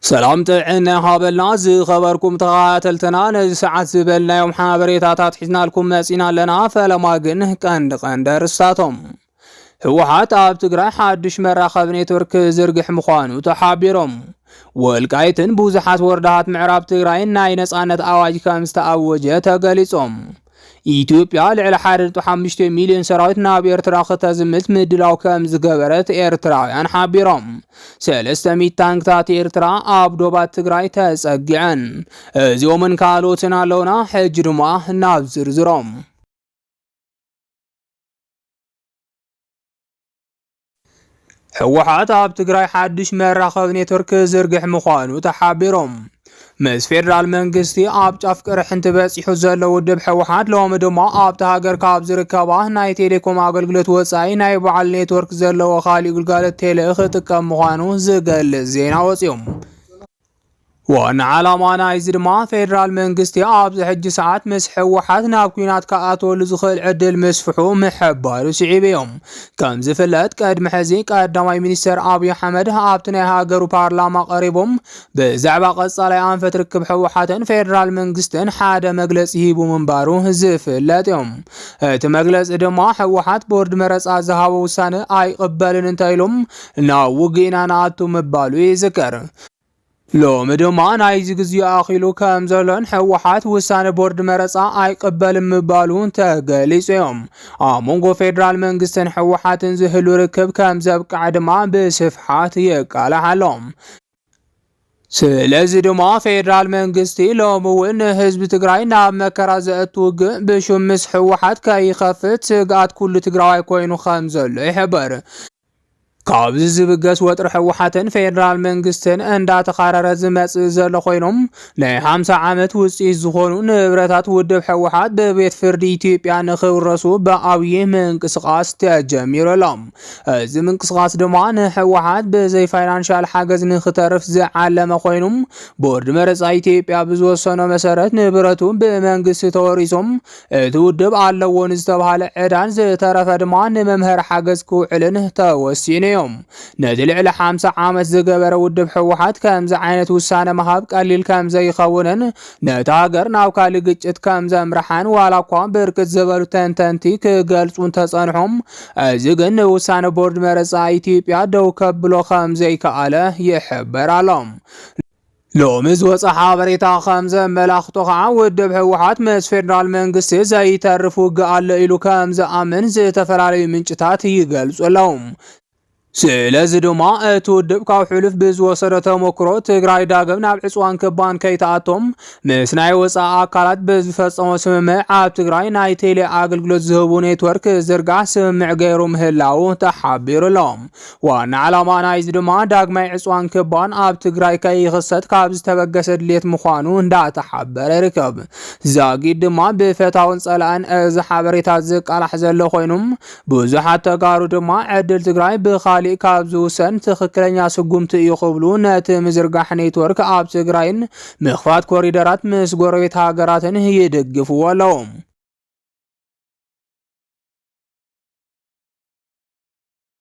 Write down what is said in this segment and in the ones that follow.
ሰላም ጥዕና ይሃበልና ዝኸበርኩም ተኸታተልትና ነዚ ሰዓት ዝበልናዮም ሓበሬታታት ሒዝናልኩም መጺና ኣለና። ፈለማ ግን ቀንዲ ቀንዲ ኣርእስታቶም ህወሓት ኣብ ትግራይ ሓድሽ መራኸቢ ኔትወርክ ክዝርግሕ ምዃኑ ተሓቢሮም፣ ወልቃይትን ብዙሓት ወረዳታት ምዕራብ ትግራይን ናይ ነጻነት ኣዋጅ ከም ዝተኣወጀ ተገሊጾም፣ ኢትዮጵያ ልዕሊ 1.5 ሚልዮን ሰራዊት ናብ ኤርትራ ከተዝምት ምድላው ከም ዝገበረት ኤርትራውያን ሓቢሮም። ሰለስተ ሚት ታንክታት ኤርትራ ኣብ ዶባት ትግራይ ተጸጊዐን። እዚኦምን ካልኦትን ኣለውና። ሕጂ ድማ ናብ ዝርዝሮም ህወሓት ኣብ ትግራይ ሓድሽ መራኸቢ ኔትወርክ ክዝርግሕ ምዃኑ ተሓቢሮም ምስ ፌዴራል መንግስቲ ኣብ ጫፍ ቅርሕንቲ በፂሑ ዘሎ ውድብ ህወሓት ሎሚ ድማ ኣብቲ ሃገር ካብ ዝርከባ ናይ ቴሌኮም ኣገልግሎት ወፃኢ ናይ በዓል ኔትወርክ ዘለዎ ካሊእ ግልጋሎት ቴሌ ክጥቀም ምዃኑ ዝገልፅ ዜና ወፂኦም ዋና ዓላማ ናይዚ ድማ ፌደራል መንግስቲ ኣብዚ ሕጂ ሰዓት ምስ ሕወሓት ናብ ኩናት ክኣትወሉ ዝኽእል ዕድል ምስፍሑ ምሕባሩ ስዒቡ እዩ። ከም ዝፍለጥ ቅድሚ ሕዚ ቀዳማይ ሚኒስተር ኣብዪ ኣሕመድ ኣብቲ ናይ ሃገሩ ፓርላማ ቀሪቦም ብዛዕባ ቀጻላይ ኣንፈት ርክብ ሕወሓትን ፌደራል መንግስትን ሓደ መግለጺ ሂቡ ምንባሩ ዝፍለጥ እዩ። እቲ መግለጺ ድማ ሕወሓት ቦርድ መረጻ ዝሃቦ ውሳነ ኣይቕበልን እንተኢሎም ናብ ውግእ ኢና ንኣቱ ምባሉ ይዝከር። ሎሚ ድማ ናይዚ ግዜኡ ኣኺሉ ከም ዘሎን ህወሓት ውሳነ ቦርድ መረፃ ኣይቅበልን ምባሉ ተገሊፁ እዮም። ኣብ መንጎ ፌዴራል መንግስትን ህወሓትን ዝህሉ ርክብ ከም ዘብቅዐ ድማ ብስፍሓት የቃላሕ ኣሎ። ስለዚ ድማ ፌዴራል መንግስቲ ሎሚ እውን ንህዝቢ ትግራይ ናብ መከራ ዘእቱ ውግእ ብሹም ምስ ህወሓት ከይኸፍት ስግኣት ኩሉ ትግራዋይ ኮይኑ ከም ዘሎ ይሕበር። ካብዚ ዝብገስ ወጥሪ ህወሓትን ፌደራል መንግስትን እንዳተኻረረ ዝመፅእ ዘሎ ኮይኖም ናይ ሓምሳ ዓመት ውፅኢት ዝኾኑ ንብረታት ውድብ ህወሓት ብቤት ፍርዲ ኢትዮጵያ ንክውረሱ ብዓብዪ ምንቅስቓስ ተጀሚሩ ኣሎ። እዚ ምንቅስቓስ ድማ ንህወሓት ብዘይ ፋይናንሻል ሓገዝ ንክተርፍ ዝዓለመ ኮይኑ ቦርድ መረፃ ኢትዮጵያ ብዝወሰኖ መሰረት ንብረቱ ብመንግስቲ ተወሪሶም እቲ ውድብ ኣለዎ ንዝተባሃለ ዕዳን ዝተረፈ ድማ ንመምሀሪ ሓገዝ ክውዕልን ተወሲኑ እዩ። ነቲ ልዕሊ ሓምሳ ዓመት ዝገበረ ውድብ ህወሓት ከምዚ ዓይነት ውሳነ ምሃብ ቀሊል ከምዘይኸውንን ነታ ሃገር ናብ ካሊእ ግጭት ከምዘምርሓን ዋላ እኳ ብርክት ዝበሉ ተንተንቲ ክገልጹ እንተጸንሑም እዚ ግን ንውሳነ ቦርድ መረጻ ኢትዮጵያ ደው ከብሎ ከምዘይከኣለ ይሕበር ኣሎ። ሎሚ ዝወፀ ሓበሬታ ከም ዘመላኽቶ ከዓ ውድብ ህወሓት ምስ ፌዴራል መንግስቲ ዘይተርፍ ውግእ ኣሎ ኢሉ ከም ዝኣምን ዝተፈላለዩ ምንጭታት ይገልፁ ኣለው። ስለዚ ድማ እቲ ውድብ ካብ ሕሉፍ ብዝወሰዶ ተሞክሮ ትግራይ ዳግም ናብ ዕፅዋን ክባን ከይተኣቶም ምስ ናይ ወፃኢ ኣካላት ብዝፈፀሞ ስምምዕ ኣብ ትግራይ ናይ ቴሌ ኣገልግሎት ዝህቡ ኔትወርክ ዝርጋሕ ስምምዕ ገይሩ ምህላው ተሓቢሩ ኣሎ። ዋና ዕላማ ናይዚ ድማ ዳግማይ ዕፅዋን ክባን ኣብ ትግራይ ከይኽሰት ካብ ዝተበገሰ ድሌት ምዃኑ እንዳተሓበረ ይርከብ። ዛጊድ ድማ ብፈታውን ፀላእን እዚ ሓበሬታ ዝቃላሕ ዘሎ ኮይኑ ብዙሓት ተጋሩ ድማ ዕድል ትግራይ ብኻሊእ ካብ ዝውሰን ትኽክለኛ ስጉምቲ እዩ ክብሉ ነቲ ምዝርጋሕ ኔትወርክ ኣብ ትግራይን ምኽፋት ኮሪደራት ምስ ጎረቤት ሃገራትን ይድግፍዎ ኣለዉ።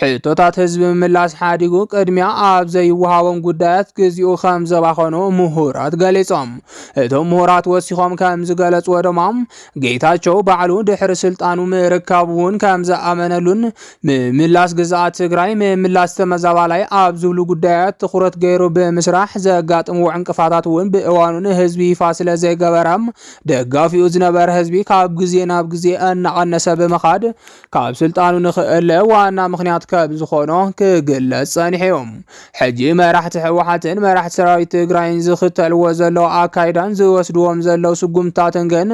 ሕቶታት ህዝቢ ምምላስ ሓዲጉ ቅድሚያ ኣብ ዘይወሃቦም ጉዳያት ግዚኡ ከም ዘባኸኑ ምሁራት ገሊጾም። እቶም ምሁራት ወሲኾም ከም ዝገለጽዎ ድማ ጌታቸው ባዕሉ ድሕሪ ስልጣኑ ምርካቡ እውን ከም ዝኣመነሉን ምምላስ ግዝኣት ትግራይ ምምላስ ተመዛባላይ ኣብ ዝብሉ ጉዳያት ትኹረት ገይሩ ብምስራሕ ዘጋጥምዎ ዕንቅፋታት እውን ብእዋኑ ንህዝቢ ይፋ ስለ ዘይገበረ ደጋፊኡ ዝነበረ ህዝቢ ካብ ግዜ ናብ ግዜ እናቐነሰ ብምኻድ ካብ ስልጣኑ ንክእለ ዋና ምኽንያት ከም ዝኾኖ ክግለጽ ጸኒሑ'ዩ። ሕጂ መራሕቲ ህወሓትን መራሕቲ ሰራዊት ትግራይን ዝኽተልዎ ዘለዉ ኣካይዳን ዝወስድዎም ዘለዉ ስጉምትታትን ግን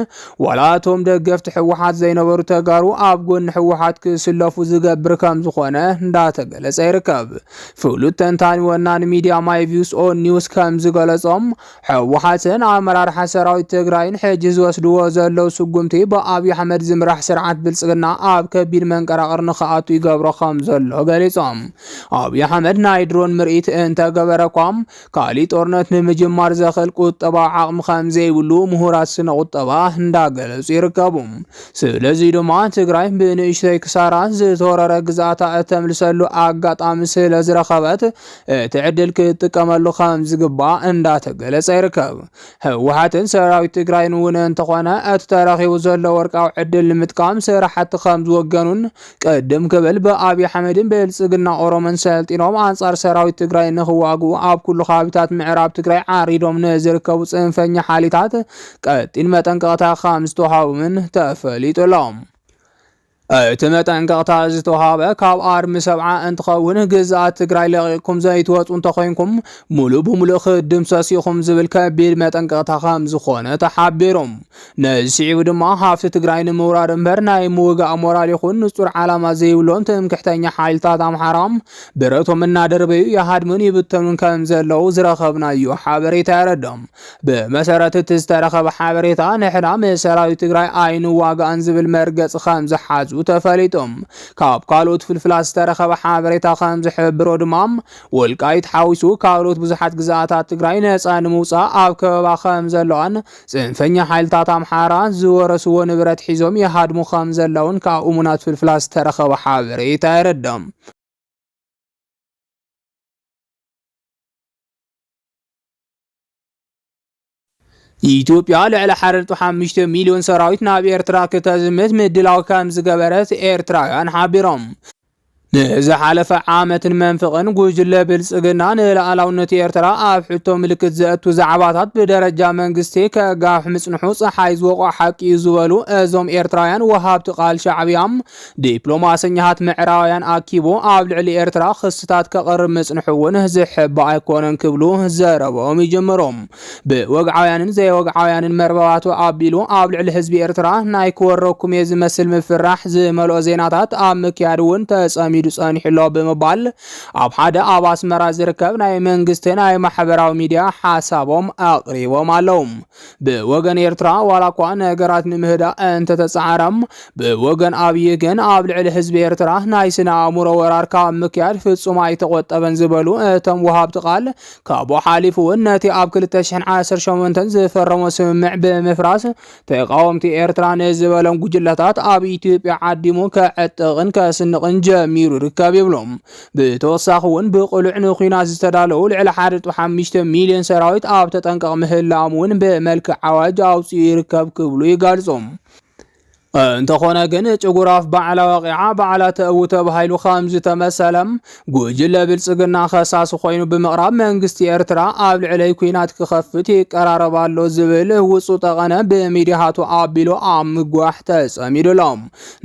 ዋላ እቶም ደገፍቲ ህወሓት ዘይነበሩ ተጋሩ ኣብ ጎኒ ህወሓት ክስለፉ ዝገብር ከም ዝኾነ እንዳተገለጸ ይርከብ። ፍሉጥ ተንታኒ ወናኒ ሚድያ ማይ ቪውስ ኦን ኒውስ ከም ዝገለጾም ሕወሓትን ኣመራርሓ ሰራዊት ትግራይን ሕጂ ዝወስድዎ ዘለው ስጉምቲ ብኣብዪ ኣሕመድ ዝምራሕ ስርዓት ብልፅግና ኣብ ከቢድ መንቀራቕር ንክኣቱ ይገብሮ ከም ዘሎ ገሊፆም። ኣብዪ ኣሕመድ ናይ ድሮን ምርኢት እንተገበረ እኳ ካሊእ ጦርነት ንምጅማር ዘኽእል ቁጠባዊ ዓቕሚ ከም ዘይብሉ ምሁራት ስነ ቁጠባ እንዳገለፁ ይርከቡ። ስለዚ ድማ ትግራይ ብንእሽተይ ክሳራ ዝተወረረ ግዝኣታ እተምልሰሉ ኣጋጣሚ ስለዝረኸበት እቲ ዕድል ክትጥቀመሉ ከም ዝግባእ እንዳተገለፀ ይርከብ። ህወሓትን ሰራዊት ትግራይን እውን እንተኾነ እቲ ተረኺቡ ዘሎ ወርቃዊ ዕድል ንምጥቃም ስራሕቲ ከም ዝወገኑን ቅድም ክብል ብኣብይ ኣሕመድን ብልፅግና ኦሮሞን ሰልጢኖም ኣንፃር ሰራዊት ትግራይ ንክዋግኡ ኣብ ኩሉ ከባቢታት ምዕራብ ትግራይ ዓሪዶም ንዝርከቡ ፅንፈኛ ሓይሊታት ቀጢን መጠንቀቕታ ከም ዝተውሃቦምን ተፈሊጡ ኣሎ። እቲ መጠንቀቕታ ዝተውሃበ ካብ ኣርሚ ሰብዓ እንትኸውን ግዝኣት ትግራይ ለቒቕኩም ዘይትወፁ እንተኾይንኩም ሙሉእ ብሙሉእ ክድምሰስ ኢኹም ዝብል ከቢድ መጠንቀቕታ ከም ዝኾነ ተሓቢሩ። ነዚ ስዒቡ ድማ ሃፍቲ ትግራይ ንምውራር እምበር ናይ ምውጋእ ሞራል ይኹን ንፁር ዓላማ ዘይብሎም ትምክሕተኛ ሓይልታት ኣምሓራ ብረቶም እናደርበዩ ይሃድሙን ይብተኑን ከም ዘለዉ ዝረኸብናዮ ሓበሬታ የረድእ። ብመሰረት እቲ ዝተረኸበ ሓበሬታ ንሕና ምስ ሰራዊት ትግራይ ኣይንዋጋእን ዝብል መርገፂ ከም ዝሓዙ ተፈሊጡ። ካብ ካልኦት ፍልፍላት ዝተረኸበ ሓበሬታ ከም ዝሕብሮ ድማ ወልቃይት ሓዊሱ ካልኦት ብዙሓት ግዝኣታት ትግራይ ነፃ ንምውፃእ ኣብ ከበባ ከም ዘለዋን ፅንፈኛ ሓይልታት ኣምሓራ ዝወረስዎ ንብረት ሒዞም ይሃድሙ ከም ዘለውን ካብ እሙናት ፍልፍላት ዝተረኸበ ሓበሬታ የረድም። ኢትዮጵያ ልዕሊ ሓረርቱ ሓሙሽተ ሚልዮን ሰራዊት ናብ ኤርትራ ክተዝምት ምድላው ከም ዝገበረት ኤርትራውያን ሓቢሮም። ንዝሓለፈ ዓመትን መንፍቕን ጉጅለ ብልጽግና ንልኣላውነት ኤርትራ ኣብ ሕቶ ምልክት ዘእቱ ዛዕባታት ብደረጃ መንግስቲ ከጋፍ ምጽንሑ ጸሓይ ዝወቕዖ ሓቂ እዩ ዝበሉ እዞም ኤርትራውያን ወሃብቲ ቃል ሻዕብያ ዲፕሎማሰኛታት ምዕራባውያን ኣኪቡ ኣብ ልዕሊ ኤርትራ ክስታት ከቕርብ ምጽንሑ እውን ዝሕባእ ኣይኮነን ክብሉ ዘረበኦም ይጀመሩ። ብወግዓውያንን ዘይወግዓውያንን መርበባቱ ኣቢሉ ኣብ ልዕሊ ህዝቢ ኤርትራ ናይ ክወረኩም እየ ዝመስል ምፍራሕ ዝመልኦ ዜናታት ኣብ ምክያድ እውን ተጸሚዱ ጸኒሑ ኣሎ ብምባል ኣብ ሓደ ኣብ ኣስመራ ዝርከብ ናይ መንግስቲ ናይ ማሕበራዊ ሚድያ ሓሳቦም ኣቕሪቦም ኣለዉ። ብወገን ኤርትራ ዋላ እኳ ነገራት ንምህዳእ እንተተጻዕረ ብወገን ኣብዪ ግን ኣብ ልዕሊ ህዝቢ ኤርትራ ናይ ስነ ኣእምሮ ወራር ካብ ምክያድ ፍጹም ኣይተቖጠበን ዝበሉ እቶም ወሃብቲ ቃል ካብኡ ሓሊፉ እውን ነቲ ኣብ 2018 ዝፈረሞ ስምምዕ ብምፍራስ ተቃወምቲ ኤርትራ ንዝበሎም ጉጅለታት ኣብ ኢትዮጵያ ዓዲሙ ከዕጥቕን ከስንቕን ጀሚሩ ይርከብ ይብሎም። ብተወሳኺ እውን ብቕሉዕ ንኲናት ዝተዳለዉ ልዕሊ ሓደ ነጥቢ ሓሙሽተ ሚልዮን ሰራዊት ኣብ ተጠንቀቕ ምህላዎም እውን ብመልክዕ ኣዋጅ ኣውፂኡ ይርከብ ክብሉ ይገልፁ። እንተኾነ ግን ጭጉራፍ ባዕላ ወቂዓ ባዕላ ተእዊ ተባሂሉ ከም ዝተመሰለ ጉጅለ ብልፅግና ከሳሲ ኮይኑ ብምቕራብ መንግስቲ ኤርትራ ኣብ ልዕለይ ኲናት ክኸፍት ይቀራረብ ኣሎ ዝብል ውፁ ጠቐነ ብሚዲያቱ ኣቢሉ ኣብ ምግዋሕ ተፀሚዱ ኣሎ።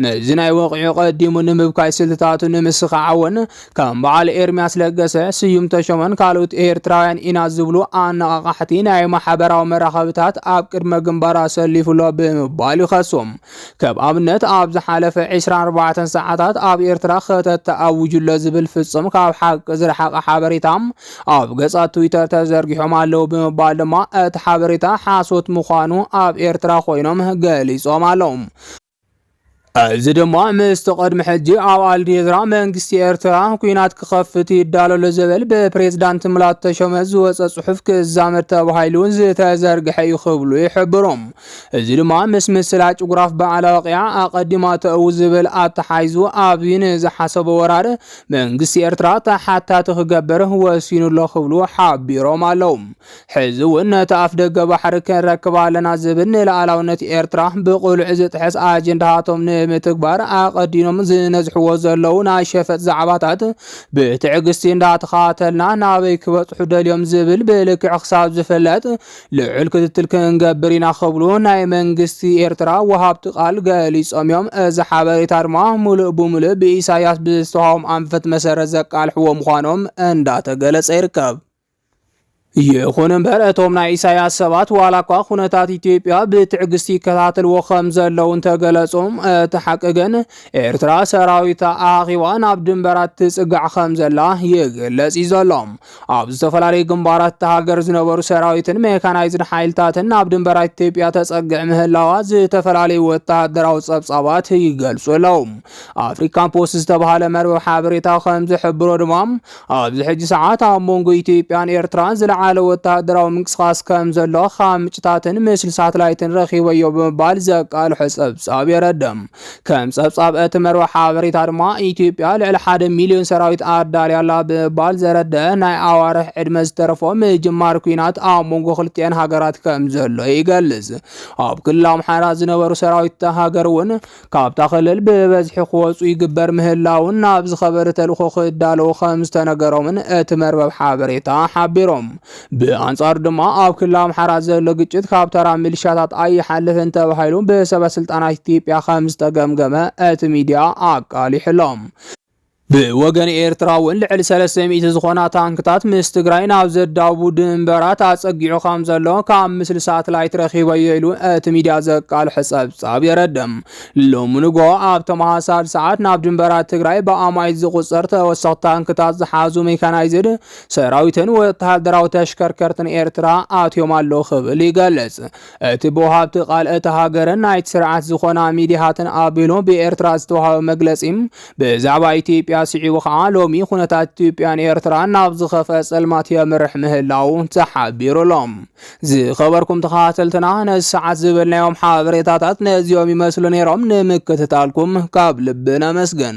ነዚ ናይ ወቕዒ ቀዲሙ ንምብካይ ስልትታቱ ንምስኻዓውን ከም በዓል ኤርምያስ ለገሰ፣ ስዩም ተሾመን ካልኦት ኤርትራውያን ኢና ዝብሉ ኣነቓቓሕቲ ናይ ማሕበራዊ መራኸብታት ኣብ ቅድመ ግንባር ኣሰሊፉሎ ብምባል ይኸሶም። ከም ኣብነት ኣብ ዝሓለፈ 24 ሰዓታት ኣብ ኤርትራ ክተት ተኣዊጁሎ ዝብል ፍጹም ካብ ሓቂ ዝረሓቐ ሓበሬታ ኣብ ገጻት ትዊተር ተዘርጊሖም ኣለዉ ብምባል ድማ እቲ ሓበሬታ ሓሶት ምዃኑ ኣብ ኤርትራ ኮይኖም ገሊጾም ኣለዉ። እዚ ድማ ምስቲ ቅድሚ ሕጂ ኣብ ኣልዴዝራ መንግስቲ ኤርትራ ኩናት ክኸፍት ይዳለሎ ዘበል ብፕሬዝዳንት ሙላቱ ተሾመ ዝወፀ ጽሑፍ ክዛመድ ተባሂሉ ዝተዘርግሐ እዩ ክብሉ ይሕብሩ። እዚ ድማ ምስ ምስላ ጭጉራፍ በዓል ኣዋቂዓ ኣቐዲማ ተእው ዝብል ኣተሓይዙ ኣብይ ንዝሓሰቦ ወራር መንግስቲ ኤርትራ ተሓታቲ ክገብር ወሲኑ ኣሎ ክብሉ ሓቢሮም ኣለዉ። ሕዚ እውን ነቲ ኣፍደገ ባሕሪ ክንረክብ ኣለና ዝብል ንልኣላውነት ኤርትራ ብቕሉዕ ዝጥሕስ ኣጀንዳታቶም ንምትግባር ኣቐዲኖም ዝነዝሕዎ ዘለዉ ናይ ሸፈጥ ዛዕባታት ብትዕግስቲ እንዳተኸታተልና ናበይ ክበጽሑ ደልዮም ዝብል ብልክዕ ክሳብ ዝፍለጥ ልዑል ክትትል ክንገብር ኢና ክብሉ ናይ መንግስቲ ኤርትራ ወሃብቲ ቃል ገሊጾም እዮም። እዚ ሓበሬታ ድማ ሙሉእ ብሙሉእ ብኢሳያስ ብዝተዋህቦም ኣንፈት መሰረት ዘቃልሕዎ ምዃኖም እንዳተገለጸ ይርከብ። ይኹን እምበር እቶም ናይ ኢሳያስ ሰባት ዋላ እኳ ኩነታት ኢትዮጵያ ብትዕግስቲ ይከታተልዎ ከም ዘለዉ እንተገለጹ እቲ ሓቂ ግን ኤርትራ ሰራዊታ ኣኻኺባ ናብ ድንበራት ትጽጋዕ ከም ዘላ ይግለጽ እዩ ዘሎ። ኣብ ዝተፈላለዩ ግንባራት እታ ሃገር ዝነበሩ ሰራዊትን ሜካናይዝድ ሓይልታትን ናብ ድንበራት ኢትዮጵያ ተጸግዕ ምህላዋ ዝተፈላለዩ ወተሃደራዊ ጸብጻባት ይገልጹ ኣለዉ። ኣፍሪካ ፖስት ዝተባሃለ መርበብ ሓበሬታ ከም ዝሕብሮ ድማ ኣብዚ ሕጂ ሰዓት ኣብ መንጎ ኢትዮጵያን ኤርትራን ዝለዓለ ወተሃደራዊ ምንቅስቓስ ከም ዘሎ ካብ ምንጭታትን ምስሊ ሳትላይትን ረኺበዮ ብምባል ዘቃልሖ ጸብጻብ የረድእ። ከም ጸብጻብ እቲ መርበብ ሓበሬታ ድማ ኢትዮጵያ ልዕሊ ሓደ ሚልዮን ሰራዊት ኣዳልያ ኣላ ብምባል ዘረደአ ናይ ኣዋርሕ ዕድመ ዝተረፎ ምጅማር ኲናት ኣብ መንጎ ክልቲኤን ሃገራት ከም ዘሎ ይገልጽ። ኣብ ክልል ኣምሓራ ዝነበሩ ሰራዊት እታ ሃገር እውን ካብታ ክልል ብበዝሒ ክወፁ ይግበር ምህላውን ናብ ዝኸበሪ ተልእኾ ክዳለዉ ከም ዝተነገሮምን እቲ መርበብ ሓበሬታ ሓቢሮም። ብኣንጻሩ ድማ ኣብ ክልል ኣምሓራ ዘሎ ግጭት ካብ ተራ ሚሊሻታት ኣይሓልፍን ተባሂሉ ብሰበስልጣናት ኢትዮጵያ ከም ዝተገምገመ እቲ ሚዲያ ኣቃሊሑሎም። ብወገን ኤርትራ እውን ልዕሊ ሰለስተ ሚእቲ ዝኾና ታንክታት ምስ ትግራይ ናብ ዘዳውቡ ድንበራት ኣጸጊዑ ከም ዘሎ ካብ ምስሊ ሳትላይት ረኺበዮ ኢሉ እቲ ሚድያ ዘቃልሖ ጸብጻብ የረድእ። ሎሚ ንግሆ ኣብ ተመሳሳሊ ሰዓት ናብ ድንበራት ትግራይ ብኣማኢት ዝቑጸር ተወሰኽቲ ታንክታት ዝሓዙ ሜካናይዝድ ሰራዊትን ወተሃደራዊ ተሽከርከርትን ኤርትራ ኣትዮም ኣለዉ ክብል ይገልጽ። እቲ ብወሃብቲ ቃል እታ ሃገርን ናይቲ ስርዓት ዝኾና ሚዲያታትን ኣቢሉ ብኤርትራ ዝተዋሃበ መግለጺ ብዛዕባ ኢትዮጵያ ስዒቡ ከዓ ሎሚ ኩነታት ኢትዮጵያን ኤርትራን ናብ ዝኸፈ ጸልማት የምርሕ ምህላው ተሓቢሩሎ። ዝኸበርኩም ተኸታተልትና ነዚ ሰዓት ዝበልናዮም ሓበሬታታት ነዚኦም ይመስሉ ነይሮም። ንምክትታልኩም ካብ ልቢ ነመስግን።